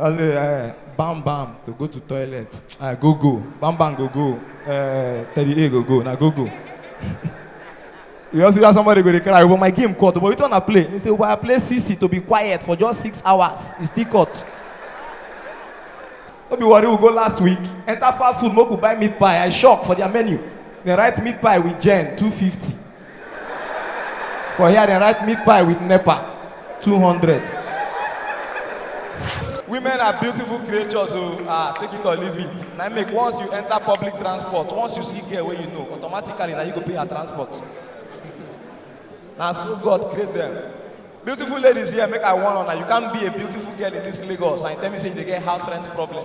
I say, eh, bam bam to go to toilet. I go go. Bam bam go go. Eh, Teddy A go go. Na go go. You also hear somebody go dey cry, but my game cut. But which one I play? He say, well, I play CC to be quiet for just six hours. It's still cut. No be worry, we go last week. Enter fast food, make we buy meat pie. I shock for their menu. They write meat pie with Jen, 250. For here, they write meat pie with NEPA. 200. Women are beautiful creatures, so ah, take it or leave it. Now make once you enter public transport, once you see girl where you know, automatically now you go pay her transport. Now so God create them. Beautiful ladies here, make I warn on you can't be a beautiful girl in this Lagos and you tell me say you dey get house rent problem.